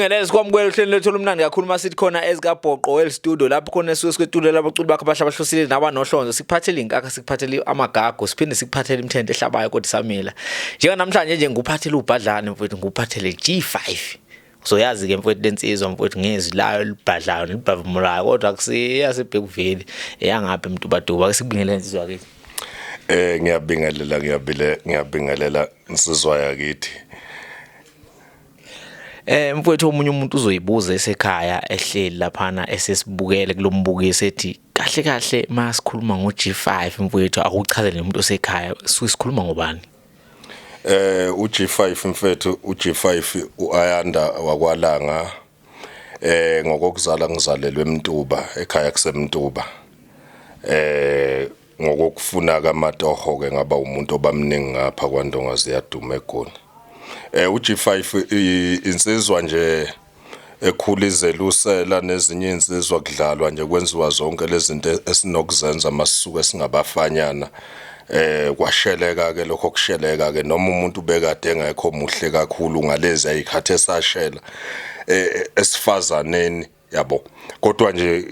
Ngelezi sikwamukela uhlelo lwethu olumnandi kakhulu uma sithi khona ezikabhoqo well studio lapho khona esuke sikwetulela abaculi bakho abasha abahlosile nabanohlonzo sikuphathele inkakha sikuphathele amagago siphinde sikuphathele imithente ehlabayo kodwa isamila njenganamhlanje nje ngikuphathele ubhadlane mfowethu ngikuphathele G5 uzoyazi ke mfowethu lensizwa mfowethu ngezwi layo libhadlayo libhavumulayo kodwa akusiya sebhekuveli eyangaphi mdubaduba ke sikubingelela insizwa ke Eh ngiyabingelela ngiyabile ngiyabingelela insizwa yakithi Eh mfowethu omunye umuntu uzoyibuza esekhaya ehleli laphana esesibukele kulombukiso ethi kahle kahle masikhuluma ngo G5 mfowethu akuchazele umuntu osekhaya sikhuluma ngobani eh uG5 mfethu uG5 uAyanda wakwalanga eh ngokokuzala ngizalelwe eMtuba ekhaya kuseMtuba eh ngokokufuna kamatoho ke ngaba umuntu obamningi ngapha kwandonga ziyaduma egoli eh uG5 insizwa nje ekhula izelusela nezinye insizwa kudlalwa nje kwenziwa zonke lezinto esinokuzenza masisuke singabafanyana eh kwasheleka ke lokho kusheleka ke noma umuntu bekade engekho muhle kakhulu ngalezi ayikhathe sashela eh, esifazaneni yabo kodwa nje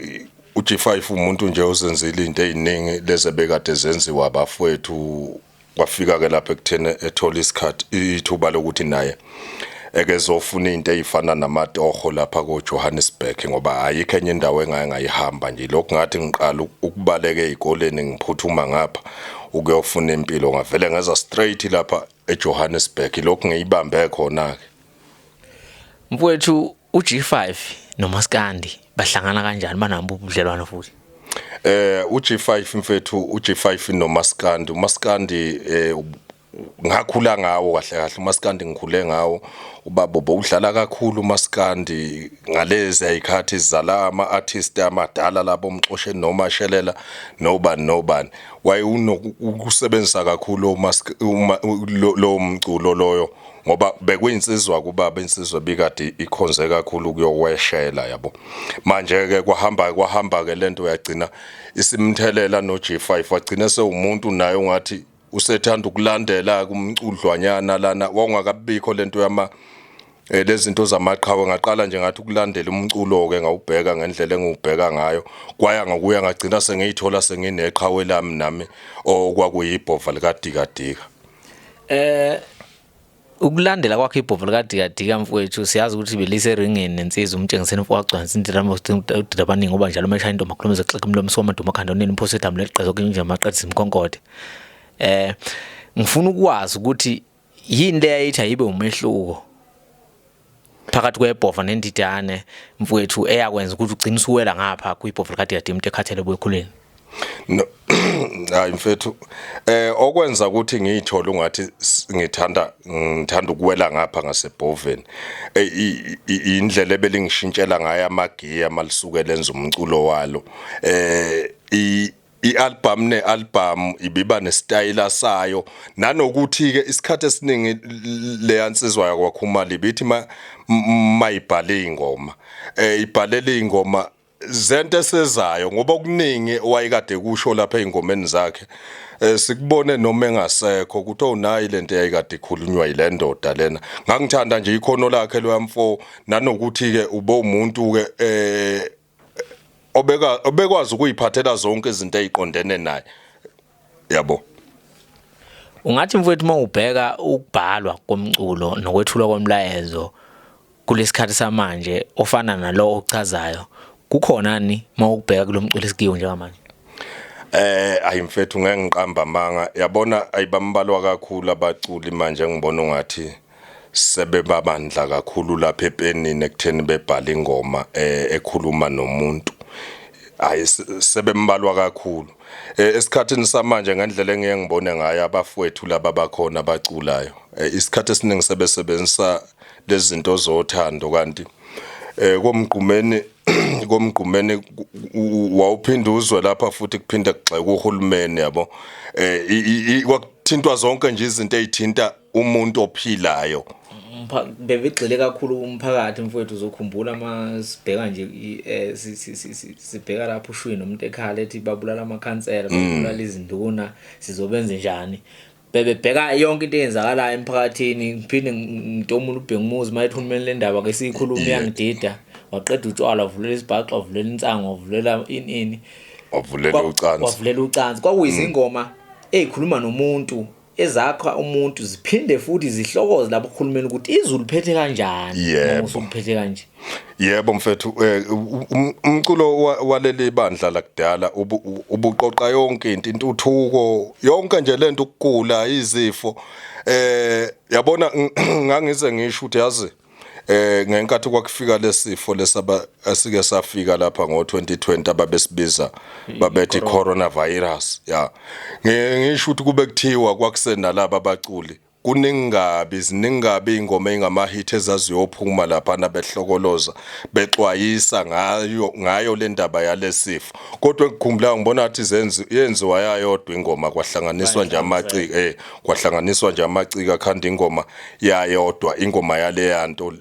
uG5 umuntu nje ozenzile into eziningi leze bekade zenziwa abafowethu kwafika ke lapha ekuthena ethola isikhathi ithuba lokuthi naye ekezofuna into ezifana namatoho lapha ko Johannesburg ngoba ayikho enye indawo engaye ngayihamba nje lokho ngathi ngiqala ukubaleka ezikoleni ngiphuthuma ngapha ukuyofuna impilo ngavele ngeza straight lapha eJohannesburg lokho ngiyibambe khona ke mfowethu UG5 noMaskandi bahlangana kanjani banabo ubudlelwano futhi? Eh uG5 mfethu uG5 noMaskandi uMaskandi eh ngakhula ngawo kahle kahle umaskandi ngikhule ngawo ubaba bowudlala kakhulu umaskandi ngalezi ayikhathi zala ama artist amadala labo mxoshe noma shelela noba nobani wayeunokusebenzisa kakhulu umask lo mculo loyo ngoba bekuyinsizwa kubaba insizwa bikade ikhonze kakhulu kuyokweshela yabo manje ke kwahamba kwahamba ke lento uyagcina isimthelela no G5 wagcina sewumuntu naye ungathi usethanda ukulandela kumcudlwanyana lana wawungakabikho lento yama Eh lezinto zamaqhawe ngaqala nje ngathi ukulandela umculo ke ngawubheka ngendlela engiwubheka ngayo kwaya ngokuya ngagcina sengiyithola sengineqhawe lami nami okwakuyibhova likadikadika Eh ukulandela kwakhe ibhovu likadikadika mfowethu siyazi ukuthi belise eringini nensizwa umtshengiseni mfo wagcwanisa indirama udida abaningi ngoba njalo uma eshaya intombi akhuluma ezoxeka umlomo soma duma khanda onini imphosi edamule liqeza okunye nje maqedisa imkhonkothe eh ngifuna ukwazi ukuthi yini le yayithi ayibe umehluko phakathi kwebhova nendidane mfowethu eyakwenza ukuthi ugcine usuwela ngapha kwibhova likadidade umuntu ekhathele buyekhuleni no hayi mfethu eh okwenza ukuthi ngiyithole ungathi ngithanda ngithanda ukuwela ngapha ngasebhoveni indlela ebelingishintshela ngayo amagiya malisukela enza umculo walo eh i-albhamu ne-albhamu ibiba nesitayela sayo nanokuthi-ke isikhathi esiningi leya nsizwa yakwakhumali ibithi mayibhale iy'ngoma um ibhalele iy'ngoma zento esezayo ngoba okuningi wayekade kusho lapha ey'ngomeni zakhe um sikubone noma engasekho ukuthi owunayi le nto eyayikade ikhulunywa yile ndoda lena ngangithanda nje ikhono lakhe loyamfo nanokuthi-ke ube umuntu-ke um obeka obekwazi ukuyiphathela zonke izinto eziqondene naye yabo ungathi mfowethu uma ubheka ukubhalwa komculo nokwethulwa komlayezo kulesikhathi samanje ofana nalo ochazayo kukhona ni uma ukubheka kulomculo esikiyo njengamanje Eh ayi mfethu ngeke ngiqamba manga yabona ayibambalwa kakhulu abaculi manje ngibona ungathi sebebabandla kakhulu lapha epenini ekutheni bebhale ingoma eh, ekhuluma nomuntu hayi sebembalwa kakhulu eh, esikhathini samanje ngendlela engiye ngibone ngayo abafowethu laba bakhona abaculayo eh, isikhathi esiningi sebesebenzisa lezi zinto zothando kanti eh komgqumeni komgqumeni wawuphinda uzwe lapha futhi kuphinde kugxeka uhulumeni yabo eh kwakuthintwa zonke nje izinto ezithinta umuntu ophilayo bebegxile kakhulu umphakathi mfowethu uzokhumbula uma sibheka nje eh, sibheka lapho ushwini umuntu ekhala ethi babulala amakhansela mm. babulala izinduna sizobenze njani bebebheka yonke into eyenzakalayo emphakathini ngiphinde ngitomula ubheka umuzi uma ethi uhulumeni le ndaba ke siyikhuluma iyangidida waqeda utshwala wavulela isibhaxo wavulela insango wavulela ini ini wavulela ucansi wavulela ucansi kwakuyizingoma mm. ezikhuluma nomuntu ezakha umuntu ziphinde futhi zihlokoze lapho uhulumeni ukuthi izulu phethe kanjani yebo usuphethe kanje yebo mfethu eh, um, umculo waleli bandla lakudala ubuqoqa yonke into intuthuko yonke nje lento ukugula izifo eh yabona ngangize ngisho ukuthi yazi eh ngenkathi kwakufika lesifo lesaba asike safika lapha ngo2020 ababesibiza babethi coronavirus ya ngisho ukuthi kube kuthiwa kwakusena laba baculi kuningabi ziningabi ingoma engama hit ezaziyophuma lapha nabehlokoloza bexwayisa ngayo ngayo le ndaba yalesifo kodwa ngikhumbula ngibona ngathi zenzi yenziwa yayodwa ingoma kwahlanganiswa nje amaciko eh kwahlanganiswa nje amaciko akhanda ingoma yayodwa ingoma yaleya nto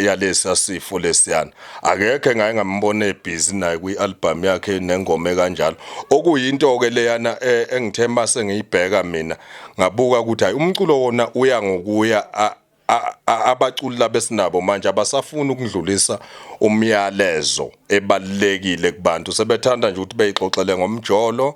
yalesa sifo lesiyana akekho engaye ngambona ebhizi naye kwi-albhamu yakhe nengoma ekanjalo okuyinto-ke leyana e, engithe uma sengiyibheka mina ngabuka ukuthi hhayi umculo wona uya ngokuya abaculi laba esinabo manje abasafuni ukudlulisa umyalezo ebalekile kubantu sebethanda nje ukuthi beyixoxele ngomjolo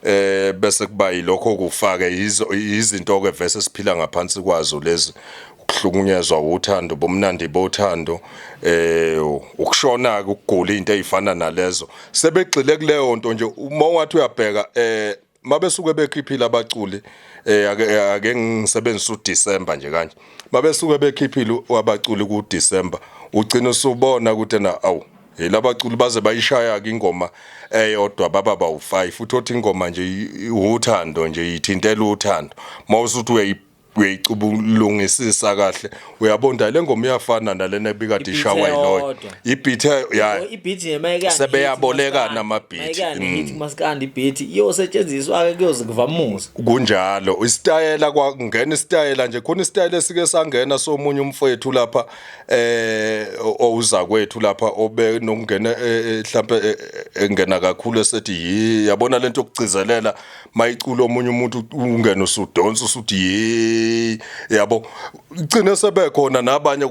eh bese kuba yilokho kufake izinto ke vese siphila ngaphansi kwazo lezi ukuhlukunyezwa uthando bomnandi bothando eh ukushona ke ukugula into ezifana nalezo sebegxile kuleyo nto nje uma wathi uyabheka eh mabesuke bekhiphile abaculi eh ake eh, ngisebenzisa uDecember nje kanje mabesuke bekhiphile abaculi kuDecember ugcina usubona ukuthi na awu Hey labaculi baze bayishaya ke ingoma eyodwa baba bawu 5 futhi othi ingoma nje i- uthando nje ithintela uthando mawusuthi uyayi uyayicubulungisisa kahle uyabonda le ngoma iyafana nalena ebikade Ibhithe ishawa yiloyo yodwa. ibhithe ya ibhithi nje mayekani Sebeyabolekana ama-beat. mayekani Mm. hit maskandi ibhithi iyosetshenziswa ke kuyoze kuvamuza kunjalo isitayela kwangena isitayela nje khona isitayela esike sangena somunye umfowethu lapha eh owuzakwethu lapha obe nokungena eh, eh, mhlambe eh, engena kakhulu esethi yi yabona lento yokugcizelela mayiculo omunye umuntu ungena usudonsa usuthi yi yabo ugcine sebekhona nabanye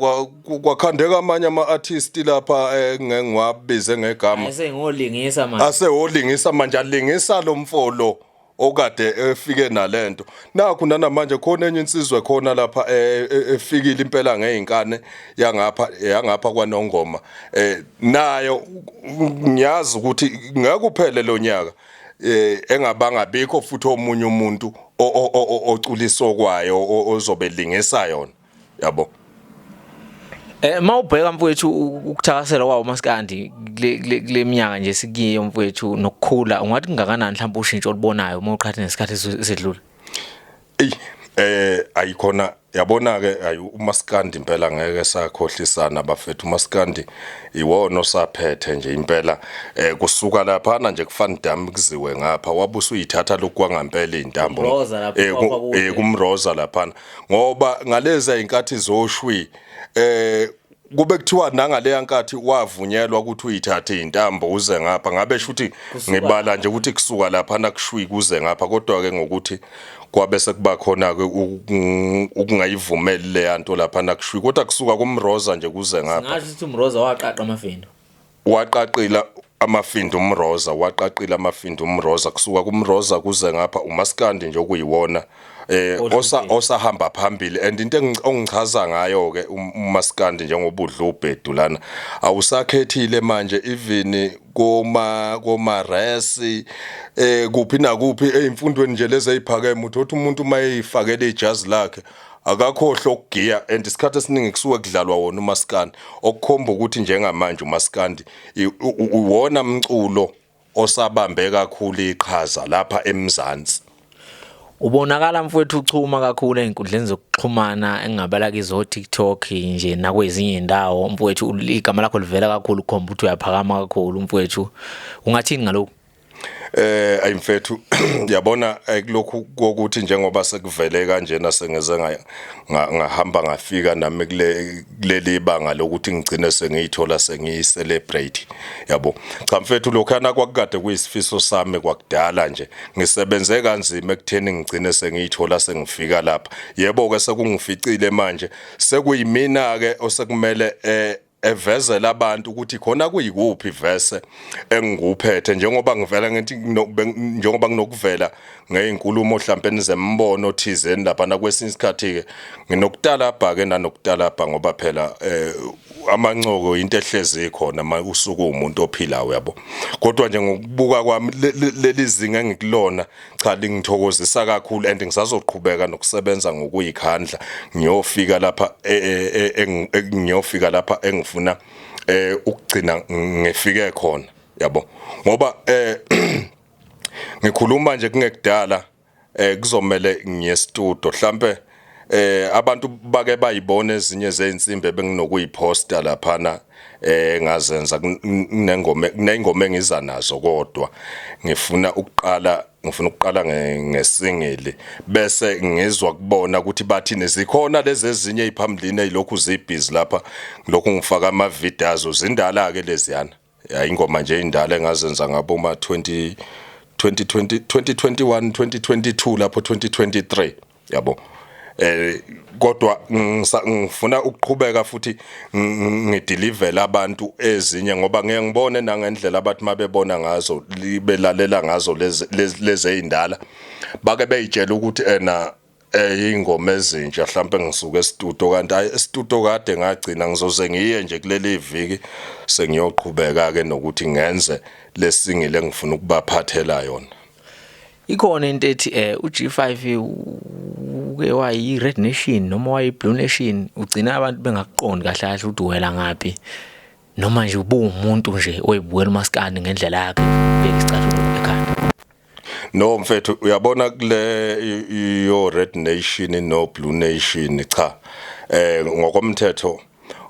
kwakhandeka amanye ama artist lapha engiwabize ngegama asengolingisa manje asewolingisa manje alingisa lomfolo okade efike nalento nakhu nanamanje khona enye insizwe khona lapha eh, eh, efikile impela ngeinkane yangapha yangapha kwanongoma eh nayo ngiyazi ukuthi ngeke uphele lonyaka eh engabanga bikho futhi omunye umuntu oculisokwayo ozobe lingisa yona yabo Eh mawubheka mfowethu ukuthakasela kwawo maskandi kule minyaka nje sikiyo mfowethu nokukhula ungathi kungakanani mhlawumbe ushintsho olubonayo uma uqhatha nesikhathi esedlule Ey eh ayikhona yabona ke ayi umaskandi impela ngeke sakhohlisana bafethu umaskandi iwona osaphethe nje impela eh kusuka lapha na nje kufani dam kuziwe ngapha wabusa uyithatha lokwangampela izintambo eh, eh kumroza lapha ngoba ngaleza inkathi zoshwi eh kube kuthiwa nangaleya nkathi wavunyelwa ukuthi uyithathe intambo uze ngapha ngabe shuthi ngibala nje ukuthi kusuka lapha nakushwi kuze ngapha kodwa ke ngokuthi kwabe sekuba khona ke ukungayivumeli leya nto lapha nakushwi kodwa kusuka kumroza nje kuze ngapha ngathi umroza waqaqa amafendo Waqaqila amafindo umroza waqaqila amafindo umroza kusuka kumroza kuze ngapha umaskandi nje okuyiwona eh osa osahamba phambili and into engichaza ngayo ke um, umaskandi njengobudla ubhedu lana awusakhethile manje even koma koma resi eh kuphi nakuphi ezimfundweni nje lezi eziphakeme uthi umuntu uma eyifakele ijazi lakhe akakhohlwa ukugiya and isikhathi esiningi kusuke kudlalwa wona umaskandi okukhomba ukuthi njengamanje umaskandi uwona mculo osabambe kakhulu iqhaza lapha eMzansi Ubonakala mfowethu uchuma kakhulu ezinkundleni zokuxhumana engabala kizo TikTok nje nakwezinye indawo mfowethu igama lakho livela kakhulu khomba ukuthi uyaphakama kakhulu mfowethu ungathini ngalokho Eh ayimfethu yabona eh, kulokhu kokuthi njengoba sekuvele kanjena sengeze ngahamba ngafika nami kule kuleli banga lokuthi ngigcine sengiyithola sengiyi celebrate yabo cha mfethu lokhana kwakukade kuyisifiso sami kwakudala nje ngisebenze kanzima ekutheni ngigcine sengiyithola sengifika lapha yebo ke sekungificile manje sekuyimina ke osekumele eh evezela abantu ukuthi khona kuyikuphi verse engikuphethe njengoba ngivela ngithi njengoba nginokuvela ngeinkulumo mhlambe nizembono thizeni lapha na kwesinye isikhathi ke nginokutalabha ke nanokutalabha ngoba phela eh, amancoko into ehlezi khona usuku umuntu ophilayo yabo kodwa nje ngokubuka kwami lelizinga engikulona Cha lingithokozisa kakhulu and ngisazoqhubeka nokusebenza ngokuyikhandla ngiyofika lapha e, e, e, ngiyofika lapha engifuna eh ukugcina ngifike khona yabo ngoba eh ngikhuluma nje kungekudala eh kuzomela ngiye studio mhlambe Eh abantu bake bayibona ezinye zeinsimbi ebenginokuyiposta laphana eh ngazenza kunengoma kunengoma engiza nazo kodwa ngifuna ukuqala ngifuna ukuqala ngesingili bese ngizwa kubona ukuthi bathini zikhona lezi ezinye eziphambilini ezilokhu zibhizi lapha lokhu ngifaka ama videos zindala ke leziyana ya ingoma nje indala engazenza ngabo ma 20 2020 2021 2022 lapho 2023 yabo eh kodwa ngifuna ukuqhubeka futhi ngideliver abantu ezinye ngoba ngeke ngibone nangendlela abathi mabebona ngazo libelalela ngazo lezi lezindala bake beyitshela ukuthi ena eh ingoma ezintsha mhlawumbe ngisuke estudio kanti hayi estudio kade ngagcina ngizoze ngiye nje kuleli viki sengiyoqhubeka ke nokuthi ngenze lesingile engifuna ukubaphathela yona ikhona into ethi eh uG5 uke wayi Red Nation noma wayi Blue Nation ugcina abantu bengakuqondi kahle kahle ukuthi uwela ngapi noma nje ubuwumuntu nje oyibukela umaskandi ngendlela yakhe beka isicathulo ekhanda No mfethu uyabona kule yo Red Nation no Blue Nation cha eh ngokomthetho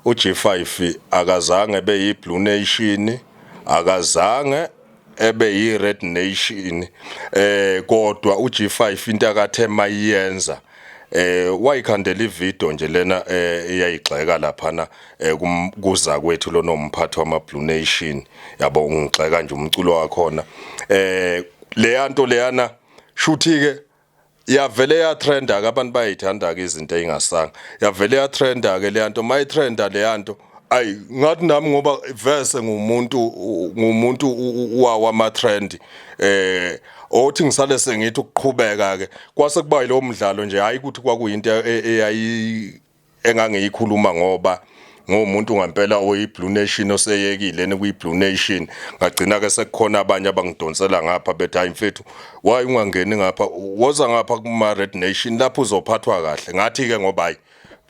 uG5 akazange ebe yi Blue Nation akazange ebe yi Red Nation eh kodwa uG5 into akathe mayenza eh wayikhandela ivideo nje lena eh, eyayigxeka laphana eh, kuza kwethu lona umphathi wama Blue Nation yabo ungigxeka nje umculo wakhona eh leya nto leyana shuthi ke yavele ya trenda ke abantu bayithanda ke izinto eingasanga yavele ya trenda ke leya nto mayitrenda leya nto ayi ngathi nami ngoba verse ngumuntu ngumuntu wawa ama trend eh othi ngisale sengithi ukuqhubeka ke kwase kuba yilowo mdlalo nje hayi ukuthi kwakuyinto e, e, eyayi engangiyikhuluma ngoba ngomuntu ngampela oyiblue nation oseyekile nekuyiblue nation ngagcina ke sekukhona abanye abangidonsela ngapha bethi hayi mfethu why ungangeni ngapha woza ngapha kuma red nation lapho uzophathwa kahle ngathi ke ngoba hayi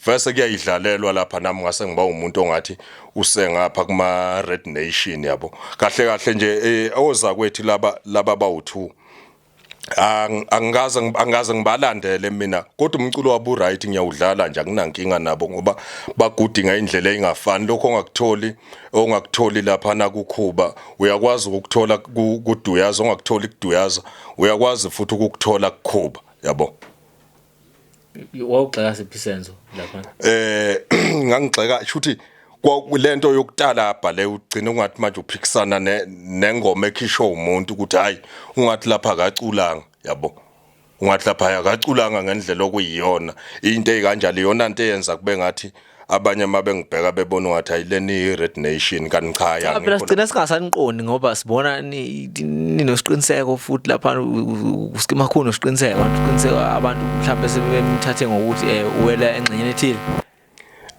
vese kuyayidlalelwa lapha nami ngase ngiba umuntu ongathi usengapha kuma Red Nation yabo kahle kahle nje eh, oza kwethi laba laba bawu2 angikaze angikaze ngibalandele mina kodwa umculo wabu right ngiyawudlala nje akunankinga nabo ngoba bagudinga indlela engafani lokho ongakutholi ongakutholi lapha na kukhuba uyakwazi ukuthola kuduyaza ongakutholi kuduyaza uyakwazi futhi ukukuthola kukhuba yabo wawugxeka siphi senzo lapha eh ngangigxeka shuthi lento yokutalabha le ugcina ungathi manje uphikisana nengoma ekhishwa umuntu ukuthi hayi ungathi lapha akaculanga yabo ungathi lapha akaculanga ngendlela okuyiyona into ekanjalo iyona into eyenza kube ngathi abanye uma bengibheka bebona ungathi ayileni i-red nation kanti cha phela yangikho sigcina singasaniqondi ngoba sibona ni- ninosiqiniseko futhi lapha uskima khulu nosiqiniseko abantu uqiniseko abantu mhlawumbe sebemthathe ngokuthi um uwela engxenyeni ethile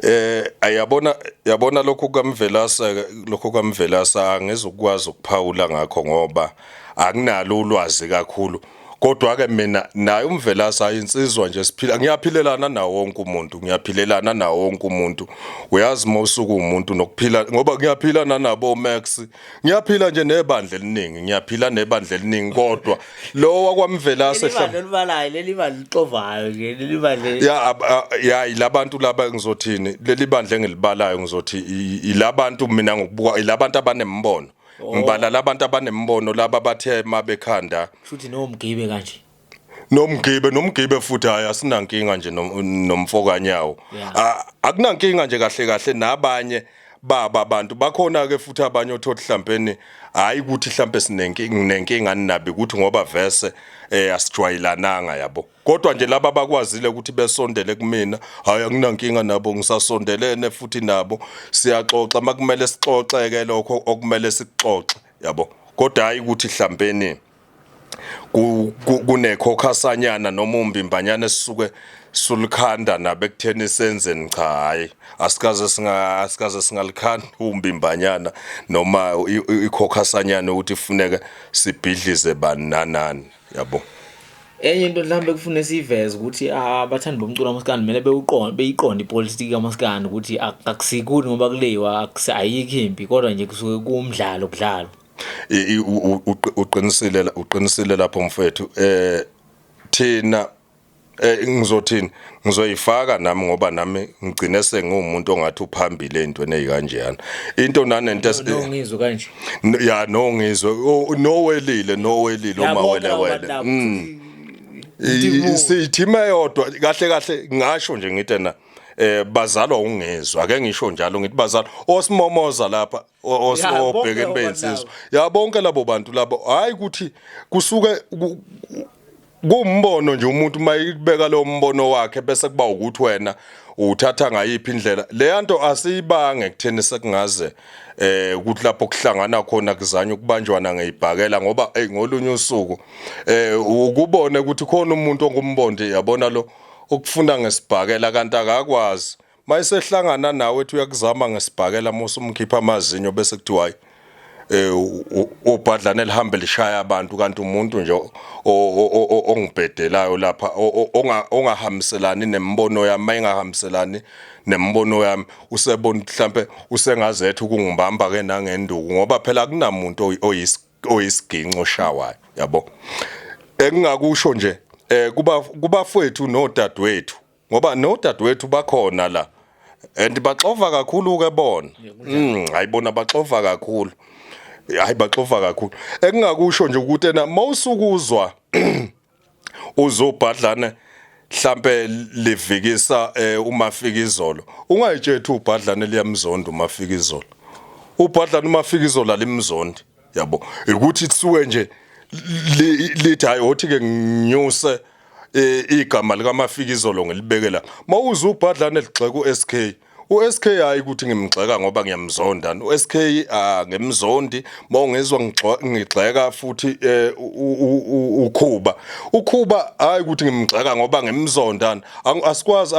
Eh ayabona yabona lokho kamvelasa lokho kamvelasa angizukwazi ukuphawula ngakho ngoba anginalo ulwazi kakhulu kodwa ke mina naye umvelasi hayi insizwa nje siphila ngiyaphilelana nawo wonke umuntu ngiyaphilelana nawo wonke umuntu uyazi uma usuku umuntu nokuphila ngoba ngiyaphila nanabo Max ngiyaphila nje nebandla eliningi ngiyaphila nebandla eliningi kodwa lo wakwamvelasi ehla libalayo leli bandla lixovayo nje leli bandla ya ya ilabantu laba ngizothini leli bandla engilibalayo ngizothi ilabantu mina ngokubuka ilabantu abanembono Oh. ngibala labantu abanembono laba bathe mabekhanda Shuthi no mgibe kanje. nomgibe nomgibe futhi hayi asinankinga nje nom- nomfokanyawo Yeah. A- akunankinga nje kahle kahle nabanye baba abantu bakhona ke futhi abanye othothi hlampeni hayi ukuthi hlampe sinenkinga nenkinga ninabi ukuthi ngoba verse eh asijwayelananga yabo kodwa nje laba bakwazile ukuthi besondele kumina hayi anginankinga nabo ngisasondelene futhi nabo siyaxoxa makumele sixoxeke lokho okumele sikuxoxe yabo kodwa hayi ukuthi hlambeni kunekhokhasanyana noma umbimbanyana esisuke sulikhanda nabo ekutheni senzeni cha hayi asikaze singa asikaze singalikhanda umbimbanyana noma ikhokhasanyana ukuthi kufuneka sibhidlize bani nanani yabo enye into mhlawumbe kufune siyiveze ukuthi ah, abathandi bomculo kamaskandi kumele bewuqonde beyiqonde ipolitiki kamaskandi ukuthi akusikuni ngoba kuleyiwa ayikho impi kodwa nje kusuke kuwumdlalo kudlalo uqinisile uqinisile lapho mfethu eh thina Eh ngizothini ngizoyifaka nami ngoba nami ngigcine sengiwumuntu ongathi uphambili ezintweni ezikanjeyana into nanento ngizwe kanje ya no ngizwe no welile no welile uma wele wele mm. sithima yodwa kahle kahle ngasho nje ngithi na eh bazalwa ungezwa ake ngisho njalo ngithi bazalwa osimomoza lapha osibhekene beyinsizwa ya bonke labo bantu labo hayi ukuthi kusuke kumbono nje umuntu uma ibeka lo mbono wakhe bese kuba ukuthi wena uthatha ngayiphi indlela leya nto asiyibange kutheni sekungaze eh ukuthi lapho kuhlangana khona kuzanywa ukubanjwana ngeyibhakela ngoba hey ngolunye usuku eh ukubone ukuthi khona umuntu ongumbondi yabona lo ukufunda ngesibhakela kanti akakwazi Mayesehlangana nawe ethi uyakuzama ngesibhakela musa umkhipha amazinyo bese kuthiwa hayi eh obhadlana lihambe lishaya abantu kanti umuntu nje ongibhedelayo lapha ongahambiselani nemibono yami engahambiselani nemibono yami usebona mhlambe usengazethe ukungibamba ke nangenduku ngoba phela akunamuntu oyisiginco oshawayo yabo engingakusho nje eh kuba kubafwethu nodadewethu ngoba nodadewethu bakhona la and baxova kakhulu ke bona mm hayibona baxova kakhulu hayi baxova kakhulu engingakusho nje ukuthi ena mawusukuzwa uzobhadlana mhlambe livikisa eh, umafika izolo ungayitshethi ubhadlana liyamzonda umafika izolo ubhadlana umafika izolo alimzondi yabo ukuthi kusuke nje lithi hayi othi ke nginyuse eh, igama likamafika izolo ngilibeke la mawuze ubhadlane ligxeka uSK uSK hayi ukuthi ngimgxeka ngoba ngiyamzonda uSK ah, ngemzondi mawungezwa ngigxeka futhi eh, ukhuba ukhuba hayi ukuthi ngimgxeka ngoba ngimzonda asikwazi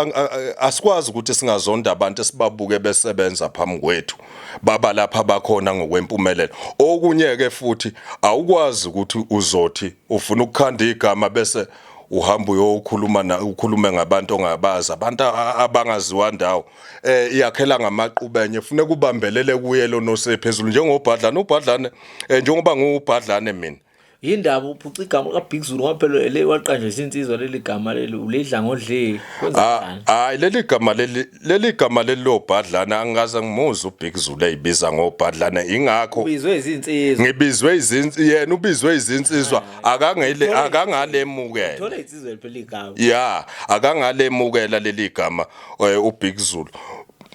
asikwazi ukuthi singazonda abantu esibabuke besebenza phambi kwethu baba lapha bakhona ngokwempumelelo okunye ke futhi awukwazi ukuthi uzothi ufuna ukukhanda igama bese uhamba uyokhuluma na ukhulume ngabantu ongabazi abantu abangaziwa ndawo eh iyakhela ngamaqubenye fune kubambelele kuye lonosephezulu njengobhadlane ubhadlane eh, njengoba ngubhadlane mina yindaba uphuca igama kabig zulu ngoba phela le waqanjisa insizwa leli gama leli ulidla ngodleli ah, hayi leli gama leli leli gama leli lobhadlana angikaze ngimuze ubig zulu eyibiza ngobhadlana ingakho ubizwe izinsizwa ngibizwe izinsizwa yena ubizwe izinsizwa ah. akangele akangalemukela thola insizwa phela igama ya akangalemukela leli gama eh, ubig zulu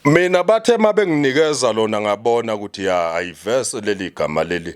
mina bathe mabenginikeza lona ngabona ukuthi ya ayivese leli gama leli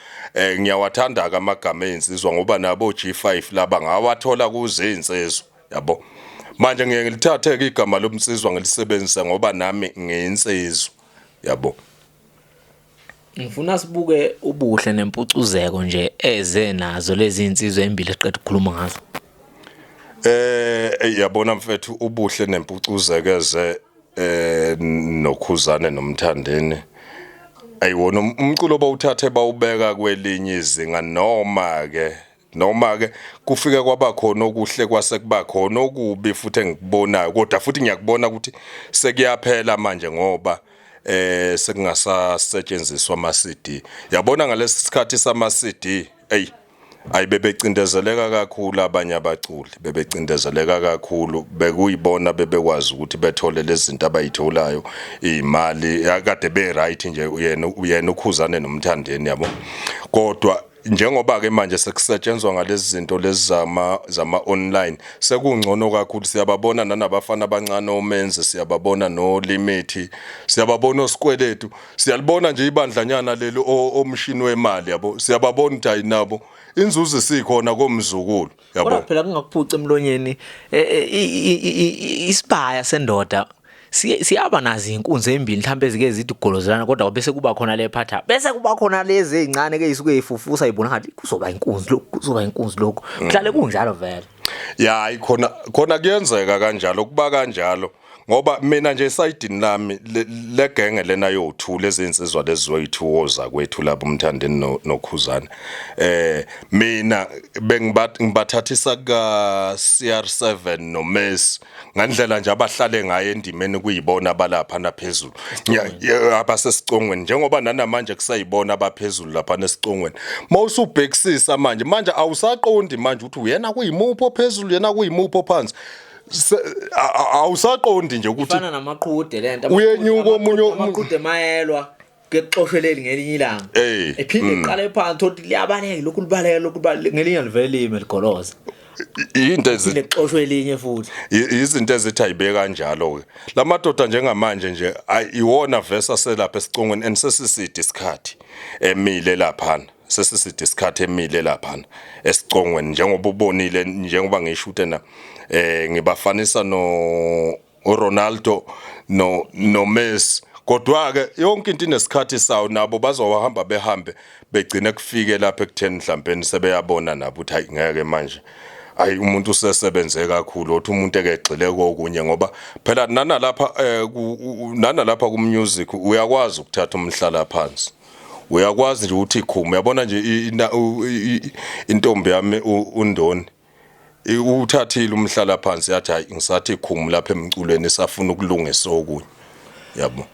Eh ngiyawathanda ke amagama ezinsizwa ngoba nabo G5 laba ngawathola kuze insizwa yabo. Manje ngiye ngilithathe ke igama lomsizwa ngilisebenzise ngoba nami ngiyinsizwa yabo. Ngifuna sibuke ubuhle nempucuzeko nje eze nazo lezi insizwa embili eqeda ukukhuluma ngazo. Eh yabona mfethu ubuhle nempucuzeko eze eh nokhuzane nomthandeni ayiwona um-, umculo bawuthathe bawubeka kwelinye izinga noma ke noma ke kufike kwaba khona okuhle kwase kuba khona okubi futhi engikubonayo kodwa futhi ngiyakubona ukuthi sekuyaphela manje ngoba eh sekungasasetshenziswa ama CD yabona ngalesi sikhathi sama CD hey Ayi bebecindezeleka kakhulu abanye abaculi bebecindezeleka kakhulu bekuyibona bebekwazi ukuthi bethole lezinto abayitholayo imali akade be right nje uyena uyena ukhuzane nomthandeni yabo kodwa njengoba ke manje sekusetshenzwa ngalezi zinto lezi zama zama online sekungcono kakhulu siyababona nanabafana abancane omenze siyababona no limit siyababona osikweletu Siyalibona nje ibandlanyana leli omshini wemali yabo. Siyababona ukuthi ayinabo. Inzuzo isikhona komzukulu yabo. Kodwa phela kungakuphuca emlonyeni e, e, isibaya sendoda siyaba nazo inkunzi ezimbili mhlawumbe ezike zithi golozelana kodwa bese kuba khona le phatha bese kuba khona lezi ezincane ke isuke ifufusa ibona ngathi kuzoba inkunzi lokho kuzoba inkunzi lokho mhlale kunjalo vele ya ikhona khona kuyenzeka kanjalo kuba kanjalo ngoba mina nje esayidini lami legenge lena yothu lezinsizwa lezizoyithu woza kwethu lapho umthandeni nokhuzana eh mina bengibathathisa ka CR7 no Messi ngandlela nje abahlale ngayo endimeni kuyibona abalapha naphezulu abasesicongweni njengoba nanamanje kusayibona abaphezulu lapha nesicongweni mawusubhekisisa manje manje awusaqondi manje ukuthi uyena kuyimuphi ophezulu yena kuyimuphi ophansi Se- a- a- awusaqondi nje ukuthi ifana namaqhude lento Uyenyuka omunye u- amaqhude mayelwa kexoshwe leli ngelinye ilanga Eh, ephinde mm. iqale phansi thothi liyabaleka lokhu libaleka lokhu libaleka ngelinye livele lime ligoloza i- into ezi- phinde kuxoshwe elinye futhi i- izinto ezithi ayibe kanjalo ke lamadoda njengamanje nje ayi- iwona verse aselapha esicongweni and sesiside isikhathi emile laphana sesiside isikhathi emile lapha esicongweni njengoba ubonile njengoba ngisho utena eh ngibafanisa no uRonaldo no no Messi kodwa ke yonke into inesikhathi sawo nabo bazohamba behambe begcine kufike lapha ekutheni mhlawumbe sebeyabona nabo ukuthi hayi ngeke manje ayi umuntu usesebenze kakhulu othi umuntu ekegxile kokunye ngoba phela nana lapha eh, nana lapha ku music uyakwazi ukuthatha umhlala phansi uyakwazi nje ukuthi ikhuma uyabona nje intombi yami undoni uthathile umhlala phansi yathi hayi ngisathi ikhumu lapha emculweni isafuna ukulungisa okunye yabo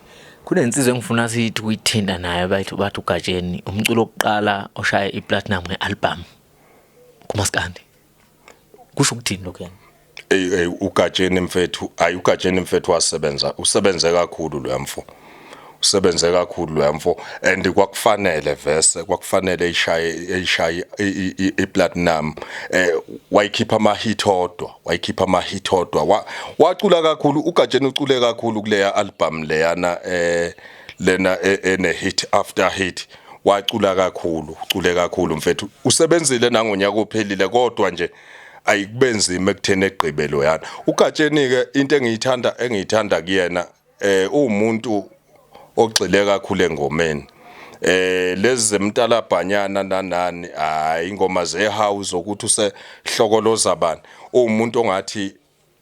kunensizwa engifuna sithi uyithinta nayo bathi bathi ugatsheni umculo wokuqala oshaya iplatinum ngealbum kumaskandi kusho ukuthini lokho yena hey hey ugatsheni mfethu ayi ugatsheni mfethu wasebenza usebenze kakhulu lo mfo usebenze kakhulu lo mfo and kwakufanele vese kwakufanele ishaye ishaye iplatinum eh wayikhipha ama hit odwa wayikhipha ama hit odwa wacula kakhulu ugatsheni ucule kakhulu kuleya album leyana eh lena e, ene hit after hit wacula kakhulu ucule kakhulu mfethu usebenzile nangonyaka ophelile kodwa nje ayikubenzima ekutheni egqibelo yana ugatsheni ke into engiyithanda engiyithanda kuyena eh umuntu ogxile kakhulu engomeni eh lezi zemtalabhanyana nanani hayi ingoma zehouse ukuthi usehlokoloza bani umuntu ongathi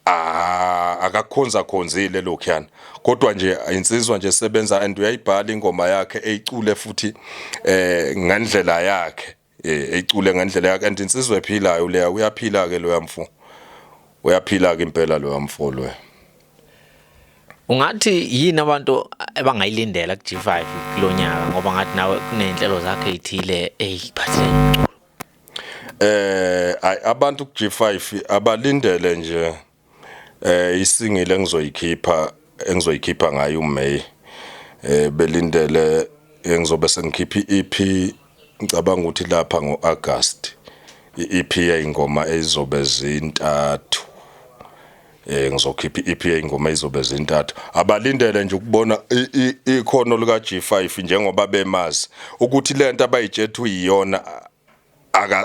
Ah akakhonza khonzile lokhuyana kodwa nje insizwa nje sebenza and uyayibhala ingoma yakhe eyicule futhi eh ngendlela yakhe eh eyicule ngendlela yakhe and insizwa ephilayo leya uyaphila ke loya mfo uyaphila ke impela loya mfo loya Ungathi yini abantu abangayilindela ku G5 kulonyaka ngoba ngathi nawe kunenhlelo zakhe ezithile eyiphathele Eh ay abantu ku G5 abalindele nje eh isingile engizoyikhipha engizoyikhipha ngayo uMay eh belindele engizobe sengikhipha iEP ngicabanga ukuthi lapha ngoAugust iEP yayingoma ezizobe zintathu eh ngizokhipha i-EP ingoma izobe zintathu abalindele nje ukubona ikhono lika G5 njengoba bemazi ukuthi lento abayijethwe iyona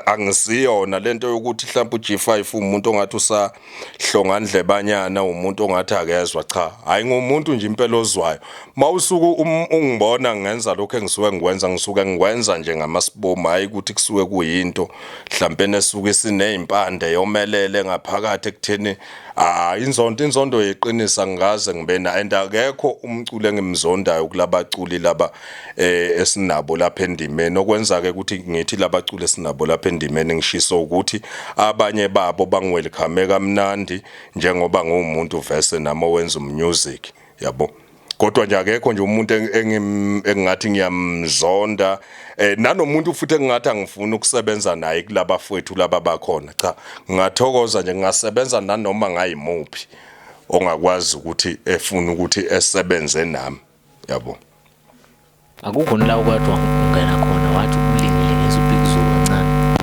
angisiyona lento yokuthi mhlawumbe uG5 umuntu ongathi usahlonga ndlebanyana umuntu ongathi akezwa cha hayi ngomuntu nje impela ozwayo Mawusuku um, ungibona ngenza lokho engisuke ngikwenza ngisuke ngikwenza nje ngamasibomu hayi ukuthi kusuke kuyinto mhlampe nesuke sinezimpande yomelele ngaphakathi ekutheni ah inzondo inzondo yeqinisa ngikaze ngibena and akekho umculi engimzondayo kulabaculi laba eh esinabo lapha endimeni okwenza ke ukuthi ngithi labaculi esinabo lapha endimeni ngishisa ukuthi abanye babo bangwelcome kamnandi njengoba ngumuntu verse nami owenza umusic yabo kodwa nje akekho nje umuntu engingathi ngiyamzonda eh nanomuntu futhi engingathi angifuni ukusebenza naye kulaba fwethu laba bakhona cha ngathokoza nje ngasebenza nanoma ngayimuphi ongakwazi ukuthi efuna ukuthi esebenze nami yabo akukho nila ukwathiwa ungena khona wathi ulingile ngizubhikizulu kancane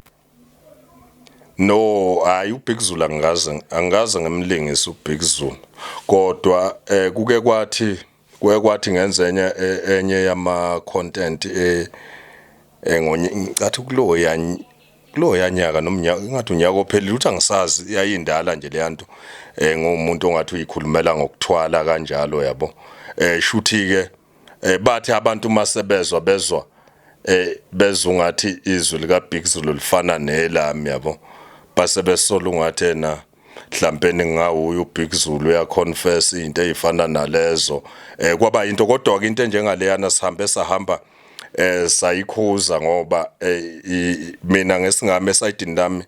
No hayi uBig Zulu angikaze angikaze ngimlingisa uBig Zulu kodwa eh kuke kwathi kuke kwathi ngenza enye e, enye yama content eh, eh ngonye ngicathi kulo ya kulo yanyaka nomnyaka ingathi unyaka ophelile uthi angisazi yayindala nje leyanto eh ngomuntu ongathi uyikhulumela ngokuthwala kanjalo yabo eh shuthi ke Eh bathi abantu masebezwa bezwa eh bezungathi izwi lika Big Zulu lifana nelami yabo. Base besola ungathi yena mhlambe ningawuyo uBig Zulu ya confess into ezifana nalezo. Eh kwaba into kodwa ke into enjengaleyana sihambe sahamba eh sayikhuza ngoba eh, mina ngesingame esayidini lami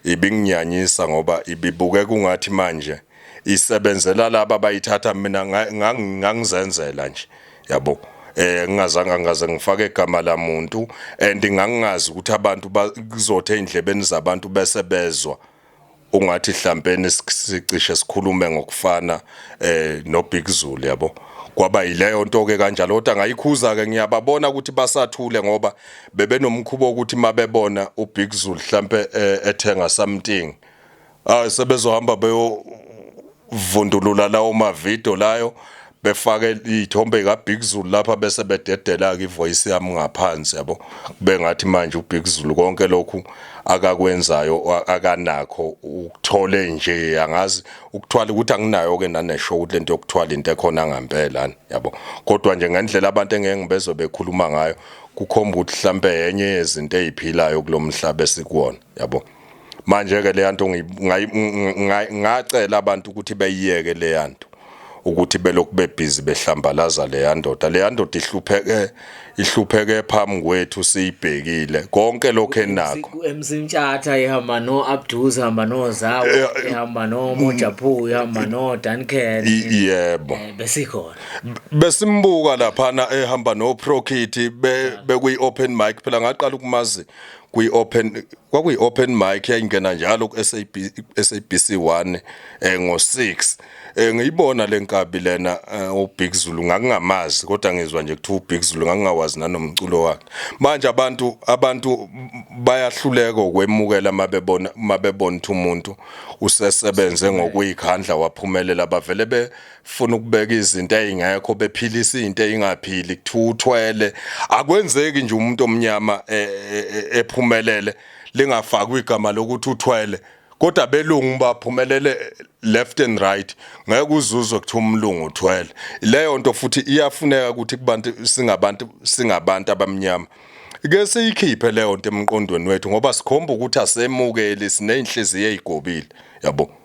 ibinginyanyisa ngoba ibibuke kungathi manje isebenzela laba bayithatha mina ngangizenzela nje yabo eh ngingazange ngaze ngifake igama lamuntu and ngangingazi ukuthi abantu kuzothe endlebeni zabantu bese bezwa ungathi hlampeni sicishe sikhulume ngokufana eh no Big Zulu yabo kwaba yileyo nto ke kanjalo kodwa ngayikhuza ke ngiyababona ukuthi basathule ngoba bebenomkhubo ukuthi mabebona uBig Zulu mhlambe eh, ethenga something hayi sebezohamba beyovundulula lawo mavidiyo layo befake iy'thombe kaBig Zulu lapha bese bededela-ke ivoyisi yami ngaphansi yabo kube ngathi manje uBig Zulu konke lokhu akakwenzayo akanakho ukuthole nje angazi ukuthwala ukuthi anginayo-ke naneshow ukuthi le nto yokuthwala into ekhona ngampela yabo kodwa nje ngendlela abantu engeke ngibezwe bekhuluma ngayo kukhomba ukuthi mhlampe yenye yezinto ey'philayo kulo mhlaba esikuwona yabo manje ke leyanto ngacela abantu ukuthi beyiyeke leyanto ukuthi belokhu bebhizi behlambalaza leyandoda leyandoda ihlupheke ihlupheke phambi kwethu siyibhekile konke lokho enakho emsintshatha ihamba no Abduz ihamba no Zawo eh, eh, ihamba no mm. Mojaphu ihamba no Duncan yebo eh, besikhona besimbuka lapha na ehamba no Prokit be bekuyi open mic phela ngaqala ukumazi kwi open kwakuyi open mic yayingena njalo ku SAB SABC 1 eh ngo 6 eh ngiyibona lenkabi lena eh, u Big Zulu ngakungamazi kodwa ngizwa nje kuthiwa u Big Zulu ngakungawazi nanomculo wakhe manje abantu abantu bayahluleka ukwemukela mabebona mabebona ukuthi umuntu usesebenze ngokuyikhandla waphumelela bavele be funa ukubeka izinto ezingekho bephilisa into engaphili kuthiwa uthwele akwenzeki nje umuntu omnyama e, e, e, ephumelele lingafakwa igama lokuthi uthwele kodwa belungu baphumelele left and right ngeke uzuzwe kuthiwa umlungu uthwele leyo nto futhi iyafuneka ukuthi kubantu singabantu singabantu abamnyama ke siyikhiphe leyo nto emqondweni wethu ngoba sikhomba ukuthi asemukeli sineyinhliziyo ezigobile yabo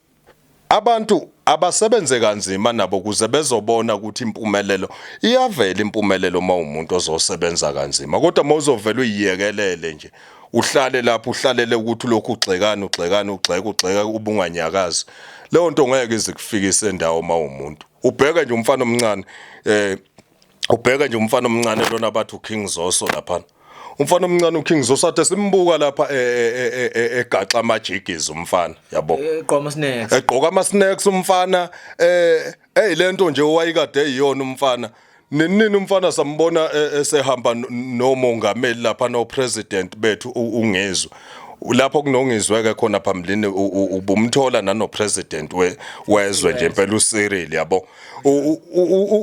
Abantu abasebenze kanzima nabo ukuze bezobona ukuthi impumelelo iyavela impumelelo uma umuntu ozosebenza kanzima kodwa uma uzovela uyiyekelele nje uhlale lapho uhlalele ukuthi lokhu ugxekana ugxekana ugxeka ugxeka ubunganyakazi leyo nto ngeke izikufikise endawo uma umuntu ubheke nje umfana omncane eh ubheke nje umfana omncane lona bathi uKing Zoso lapha umfana omncane uKing Zoso athe simbuka lapha e, e, e, egaxa amajigizi umfana yabo eqoma ama snacks egqoka ama snacks umfana eh hey lento nje owayikade eyiyona umfana Nenini umfana sambona e, esehamba nomongameli lapha no president bethu ungezwe. Lapho kunongizweke khona phambilini ubumthola nano president we wezwe nje impela uCyril yabo.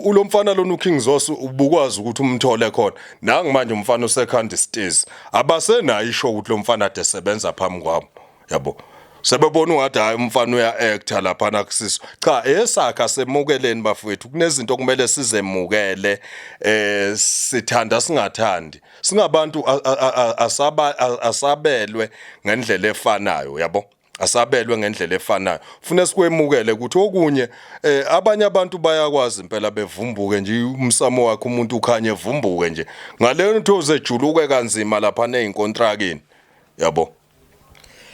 ulomfana lona uKing Zoso ubukwazi ukuthi umthole khona nangu manje umfana usekhanda stairs abasenayo isho ukuthi lomfana ade sebenza phambi kwabo yabo sebebona ungathi hayi umfana uya actor lapha nakusiso cha esakha semukeleni bafowethu kunezinto kumele sizemukele eh sithanda singathandi singabantu asaba asabelwe ngendlela efanayo yabo asabelwe ngendlela efanayo fune sikwemukele ukuthi okunye eh, abanye abantu bayakwazi impela bevumbuke nje umsamo wakhe umuntu ukhanye evumbuke nje ngaleyo nto uzejuluke kanzima lapha nezinkontrakini yabo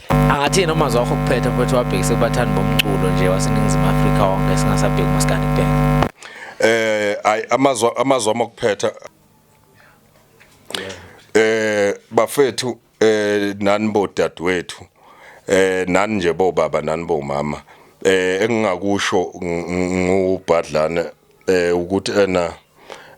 angathi noma zakho kuphetha mfethu wabhekise kubathandi bomculo nje waseningizimu Afrika wonke singasabheki maskandi kuphela eh ay amazwa amazwa amakuphetha eh bafethu eh nani bo dadwethu eh nani nje bo baba nani bo mama eh engingakusho ngubhadlane eh ukuthi ena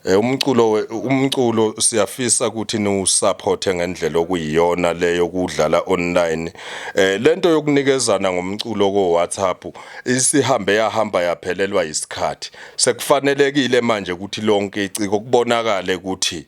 eh, umculo umculo siyafisa ukuthi niwusupport ngendlela okuyiyona leyo kudlala online eh lento yokunikezana ngomculo ko WhatsApp isihambe yahamba yaphelelwa isikhathi sekufanelekile manje ukuthi lonke iciko kubonakale ukuthi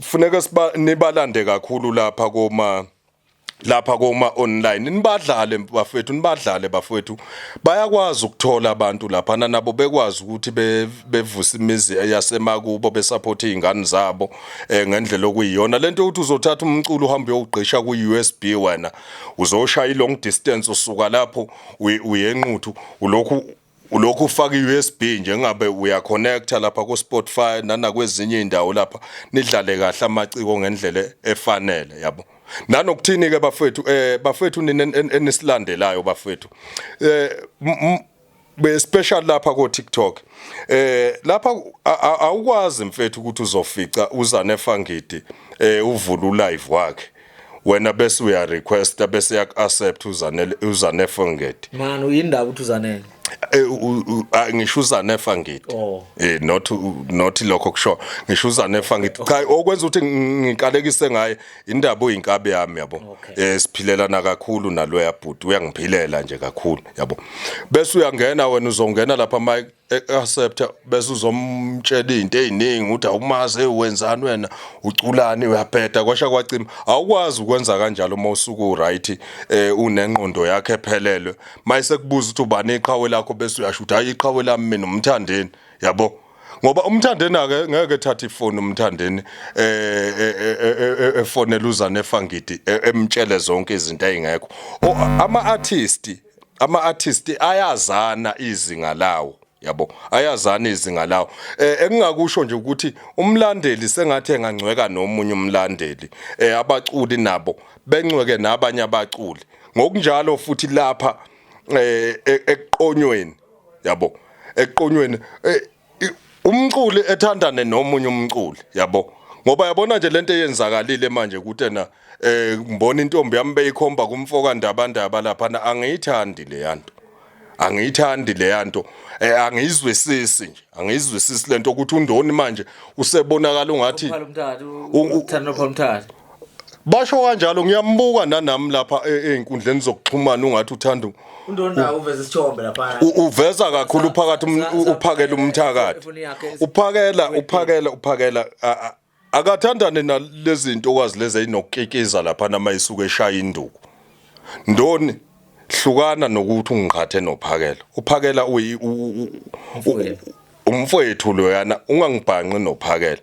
funeka siba nibalande kakhulu lapha koma lapha koma online nibadlale bafethu nibadlale bafethu bayakwazi ukuthola abantu lapha nabo bekwazi ukuthi bevuse imizi yasemakubo besupport izingane zabo eh, ngendlela okuyiyona lento ukuthi uzothatha umculo uhambe uyogqisha ku USB wena uzoshaya i long distance usuka lapho uyenquthu ulokhu ulokhu ufaka i-USB nje ngabe uyaconnecta lapha ku-Spotify nanakwezinye indawo lapha nidlale kahle amaciko ngendlela efanele yabo nanokuthini ke bafethu eh bafethu nina enisilandelayo bafethu eh be special lapha ko TikTok eh lapha awukwazi mfethu ukuthi uzofica uzane fangidi eh uvula ulive wakhe wena bese uya requesta bese yak accept uzanele uzanefa ngithi man uyindaba ukuthi uzanele eh, ngisho uzanefa ngithi oh. eh not not lokho kusho ngisho uzanefa ngithi cha okwenza ukuthi ngiqalekise ngaye indaba oyinkabe yami yabo eh siphilelana kakhulu naloya bhuti uyangiphilela nje kakhulu yabo bese uyangena wena uzongena lapha mike e-accepta bese uzomtshela izinto eziningi ukuthi awumazi wenzani wena uculani uyabheda kwasha kwacima awukwazi ukwenza kanjalo uma usuku right eh unengqondo yakhe ephelelwe mayise kubuza ukuthi ubani iqhawe lakho bese uyasho ukuthi hayi iqhawe lami mina umthandeni yabo ngoba umthandeni ake ngeke thatha ifoni umthandeni eh, eh, eh, efonela uzane efangidi emtshele zonke izinto ezingekho ama artist ama artist ayazana izinga lawo yabo ayazana izinga lawo eh engingakusho nje ukuthi umlandeli sengathi engangcweka nomunye umlandeli eh abaculi nabo bencweke nabanye abaculi ngokunjalo futhi lapha eh e-, eqonyweni yabo eqonyweni eh, umculi ethandane nomunye umculi yabo ngoba yabona nje lento eyenzakalile manje ukuthi na eh ngibona intombi yami beyikhomba kumfoka ndaba ndaba lapha na angiyithandi le yanto angiyithandi le yanto eh angiyizwisisi nje angiyizwisisi lento ukuthi undoni manje usebonakala ungathi uthando phomthatha Basho kanjalo ngiyambuka nanami lapha e- ezinkundleni zokuxhumana ungathi uthanda u- Undonda uveza isithombe lapha. u- uveza kakhulu uphakathi um- Sa- sa- uphakela umthakathi. Ifoni yakhe esi- Uphakela uphakela uphakela a- a- akathandane nalezinto okwazi lezi ezinokukikiza lapha nama isuke eshaya induku. Ndoni hlukana nokuthi ungiqhathe nophakela. Uphakela uyi u- u- u- Mfowethu. umfowethu loyana ungangibhanqi nophakela.